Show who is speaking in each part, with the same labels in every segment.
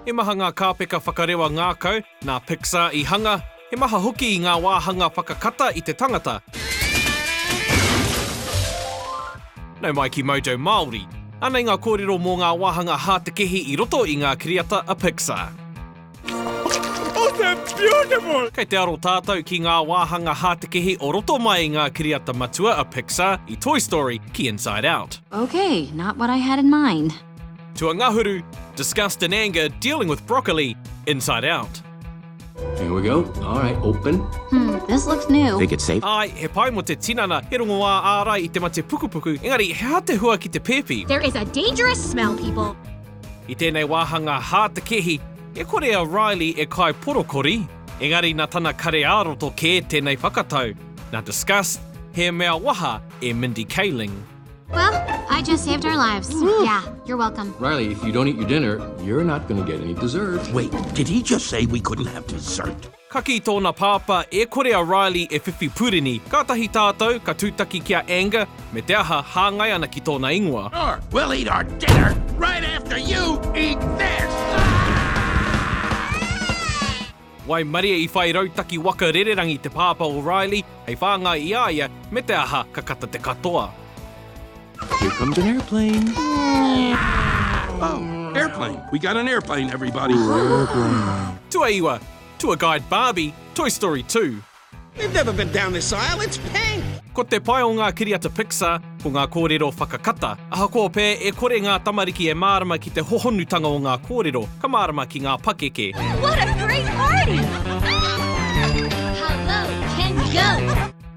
Speaker 1: He maha ngā kāpeka whakarewa ngākau nā Pixar i hanga, he maha hoki ngā wāhanga whakakata i te tangata. Nau mai ki Mojo Māori. Anei ngā kōrero mō ngā wāhanga hātekehi i roto i ngā kiriata a Pixar.
Speaker 2: Oh, they're beautiful! Kei te aro tātou
Speaker 1: ki ngā wāhanga hātekehi o roto mai i ngā kiriata matua a Pixar, i Toy Story ki Inside Out. Okay, not what
Speaker 3: I had in mind. Tuangahuru,
Speaker 1: disgust and anger dealing with broccoli, Inside Out. Here we
Speaker 4: go, alright, open. Hmm, this looks
Speaker 3: new. Think it's safe? Āe, he
Speaker 4: pai mō te tinana,
Speaker 1: he rongoā ārai i te mate pukupuku, engari he aha te hua ki te pēpi? There is a dangerous
Speaker 5: smell, people. I tēnei
Speaker 1: wāhanga hā te kehi, e kore a Riley e kai porokori, engari na tana kare ā-roto kē tēnei whakatau, na discuss, he mea waha e Mindy Kaling. Well,
Speaker 5: I just saved our lives. Woo! Yeah, you're welcome. Riley, if you don't eat your
Speaker 4: dinner, you're not gonna get any dessert. Wait, did he just
Speaker 2: say we couldn't have dessert? Ka kī tōna
Speaker 1: pāpā, e kore a Riley e whiwhi pureni, kātahi tātou ka tūtaki ki a Anger, me te aha, hāngai ana ki tōna ingoa. Or we'll eat our
Speaker 2: dinner right after you eat this!
Speaker 1: Waimarie i whai rautaki waka rererangi te pāpā o Riley hei whāngai i a ia, me te aha, ka kata te katoa.
Speaker 4: Here comes an airplane.
Speaker 2: Oh, airplane. We got an airplane, everybody.
Speaker 1: Tuaiwa, Tour Guide Barbie, Toy Story 2. We've never been
Speaker 6: down this aisle, it's pink! Ko te pai o ngā
Speaker 1: kiriata Pixar, ko ngā kōrero whakakata. Ahakoa pea e kore ngā tamariki e mārama ki te hohonutanga o ngā kōrero, ka mārama ki ngā pakeke. What a great party! Hello,
Speaker 5: can you go?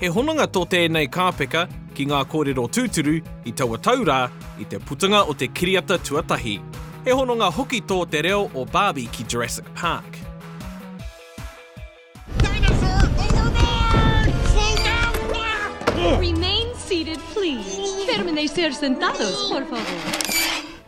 Speaker 1: He hononga tō tēnei kāpeka ki ngā kōrero tūturu i taua tau rā, i te putunga o te kiriata tuatahi. He hononga hoki tō te reo o Barbie ki Jurassic Park.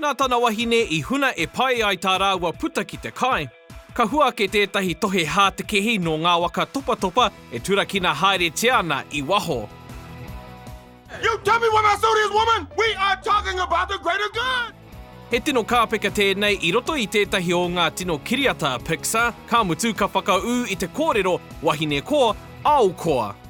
Speaker 1: Nā tana wahine i huna e pai ai tā rāua puta ki te kai. Ka hua ake tētahi tohe hātekehi nō ngā waka topatopa e turakina haeretia ana i waho.
Speaker 2: He tino
Speaker 1: kāpeka tēnei i roto i tētahi o ngā tino kiriata Pixar, ka mutu ka whakaū i te kōrero, wahine koa, ao koa.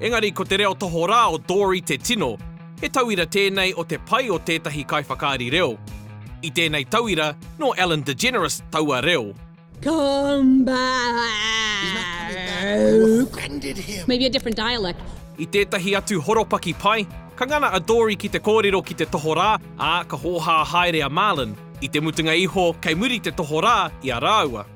Speaker 7: Engari ko te
Speaker 1: reo tohorā o Dory te tino, he tauira tēnei o te pai o tētahi kaiwhakaari reo. I tēnei tauira, nō Ellen DeGeneres taua reo.
Speaker 8: I tētahi atu
Speaker 1: horopaki pai, ka ngana a Dory ki te kōrero ki te tohorā, ā, ka hōhā haere a Marlin. I te mutunga iho, kei muri te tohorā i a rāua.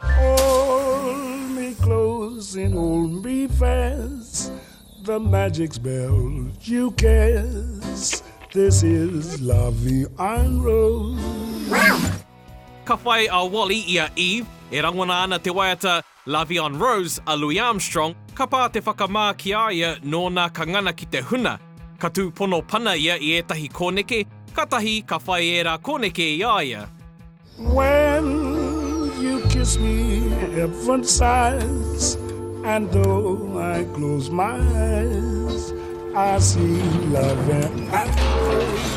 Speaker 9: Hold me close and hold me fast The magic spell you cast This is loving and rose Ka
Speaker 1: whai a Wally i a Eve, e rangona ana te waiata Lovey on Rose a Louis Armstrong, ka pā te whakamā ki a ia nōna ka ngana ki te huna. Ka tūpono pana ia i ētahi kōneke, katahi ka whai ērā kōneke i a ia. When
Speaker 9: you kiss me heaven sighs And though I close my eyes I see love and life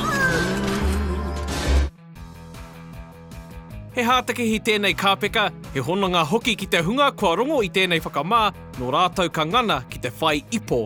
Speaker 1: He hātekehi tēnei kāpeka, he hononga hoki ki te hunga kua rongo i tēnei whakamā, nō rātou ka ngana ki te whai ipo.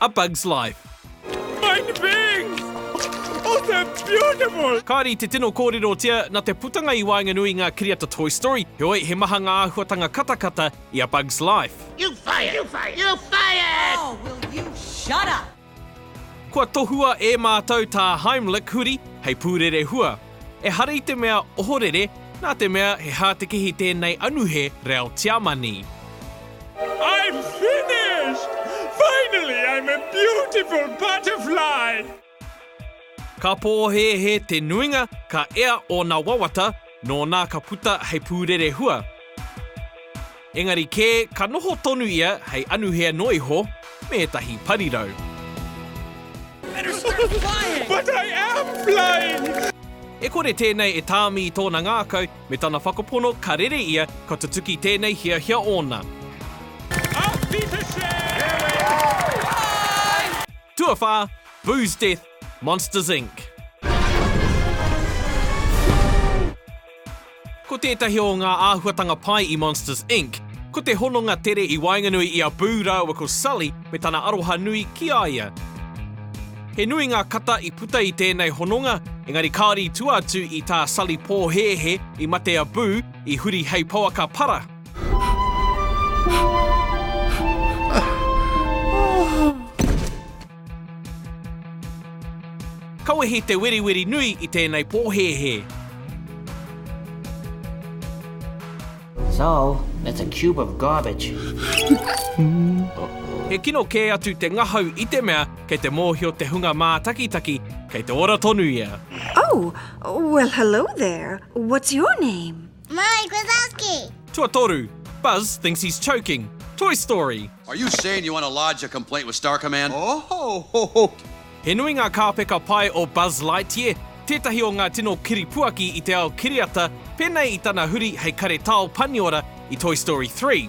Speaker 1: A Bug's Life. Fine
Speaker 9: things! Oh, they're beautiful! Kāre i te tino
Speaker 1: kōrerotia, nā te putanga i waenganui i ngā kiriata Toy Story, heoi, he maha ngā āhuatanga katakata i A Bug's Life. You fired! You fired!
Speaker 6: You fired! Oh, will you
Speaker 10: shut up! Kua
Speaker 1: tohua e mātou tā Heimlich huri hei pūrere hua. Ehara i te mea ohorere, nā te mea he hātekehi tēnei anuhe reo Tiamani.
Speaker 9: I'm finished! Finally I'm a beautiful butterfly!
Speaker 1: Ka pōhēhē te nuinga, ka ea ōna wawata, nō nā ka puta hei pūrere hua. Engari kē, ka noho tonu ia hei anuhea noa iho me ētahi parirau.
Speaker 9: E kore
Speaker 1: tēnei e tāmi i tōna ngākau me tana whakapono ka rere ia ka tutuki tēnei hiahia ōna. Tuawhā, Boo's Death, Monsters Inc. Ko tētahi o ngā āhuatanga pai i Monsters Inc. Ko te hononga tere i waenganui i a Boo rāua ko Sully me tana aroha nui ki a ia. He nui ngā kata i puta i tēnei hononga, engari kāore i tua atu i tā Sully pōhēhē i mate a Boo i huri hei pouaka para. Ka wehi te weriweri nui i tēnei pōhēhē.
Speaker 11: Thou, that's a cube of garbage.
Speaker 1: He kino kē atu te ngahau i te mea kei te mōhio te hunga mātakitaki kei te ora tonu ia. Oh,
Speaker 12: well hello there, what's your name? Mike Wazowski!
Speaker 5: Tuatoru,
Speaker 1: Buzz thinks he's choking, Toy Story! Are you saying you want
Speaker 13: to lodge a complaint with Star Command? Ohohoho! He nui ngā
Speaker 1: kāpeka pae o Buzz Lightyear, tētahi o ngā tino kiripuaki i te ao kiriata, pēnei i tana huri hei karetao paniora i Toy Story 3.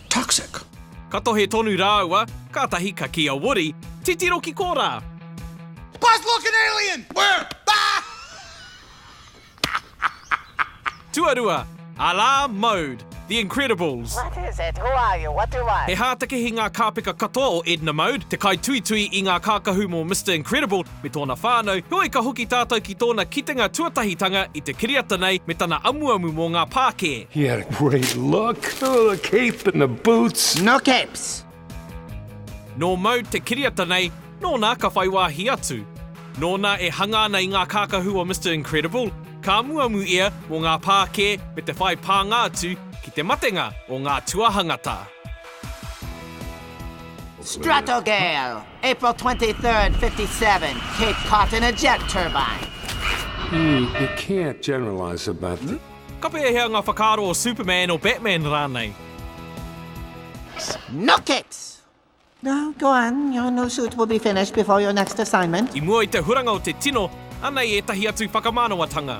Speaker 13: Toxic! Ka tohe
Speaker 1: tonu rāua, kātahi ka kī a Woody, Titiro ki korā! Buzz
Speaker 6: look an alien! Where?
Speaker 1: Tuarua, A la mode, The Incredibles. What is it? Who
Speaker 14: are you? What do you want? He hātekehi ngā
Speaker 1: kāpeka katoa o Edna Mode, te kaituitui i ngā kākahu mō Mister Incredible, me tōna whānau, heoi ka hoki tātou ki tōna kitenga tuatahitanga i te kiriata nei me tana amuamu mō ngā pākē. He had a great
Speaker 9: look, ooh the cape and the boots. No capes!
Speaker 1: Nō mau te kiriata nei, nōna ka whai wāhi atu. Nōna e hanga ana i ngā kākahu o Mister Incredible, ka amuamu ia mō ngā pākē me te whai pānga atu ki te matenga o ngā tuahangata.
Speaker 11: Stratogale! April 23rd, 57, Cape caught in a jet turbine. Mm, you
Speaker 9: can't generalize about the... Hmm? Ka pēhea ngā
Speaker 1: whakaaro o Superman, o Batman rānei?
Speaker 11: Snookix! No, go on, your new suit will be finished before your next assignment. I mua i te
Speaker 1: huranga
Speaker 11: o te
Speaker 1: tino, anei ētahi atu whakamanawatanga.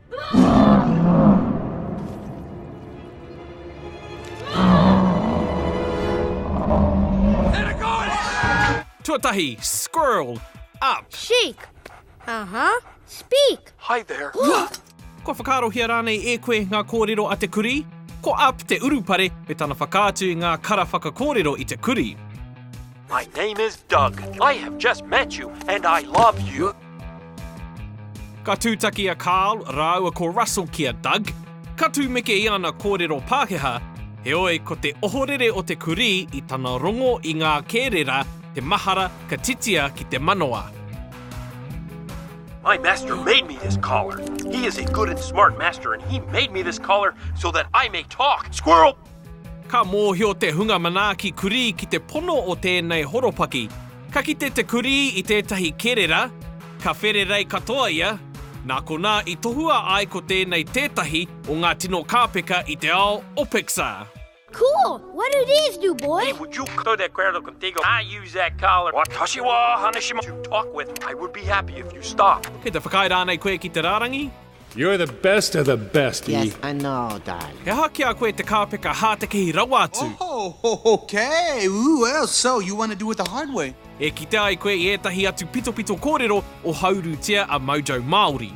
Speaker 1: Tuatahi, squirrel, up. Shake.
Speaker 5: Aha, uh -huh. speak. Hi there.
Speaker 2: Kua
Speaker 1: whakaarohia rānei e koe ngā kōrero a te kurī? Ko Up te urupare me tana whakaatu i ngā kara whakakōrero i te kurī. My
Speaker 2: name is Doug. I have just met you and I love you.
Speaker 1: Ka tūtaki a Carl rāua ko Russell ki a Doug, ka tūmeke i ana kōrero Pākehā, heoi ko te ohorere o te kurī i tana rongo i ngā kērera te mahara ka titia ki te manawa.
Speaker 2: My master made me this collar. He is a good and smart master and he made me this collar so that I may talk. Squirrel! Ka mōhio
Speaker 1: te hunga manaaki kurī ki te pono o tēnei horopaki. Ka kite te kurī i tētahi kerera, ka whererei katoa ia, nā konā i tohua ai ko tēnei tētahi o ngā tino kāpeka i te ao o Pixar. Cool!
Speaker 5: What do these do, boy? Would you go de acuerdo
Speaker 2: contigo? I use that collar, watashi wa Haneshima, to talk with. I would be happy if you stopped. Kei te whakaae rānei koe
Speaker 1: ki te rārangi? You're the
Speaker 7: best of the best, E. Yes, I know,
Speaker 11: darling. He aha ki a koe te
Speaker 1: kāpeka hātekehi rawa atu? Oh, ok,
Speaker 6: ooh, oh, so you want to do it the hard way. E kite ai koe i
Speaker 1: ētahi atu pitopito kōrero o Haurutia a Mojo Māori.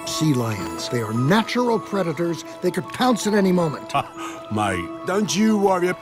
Speaker 1: Sea lions,
Speaker 15: they are natural predators, they could pounce at any moment. Mate,
Speaker 7: don't you worry.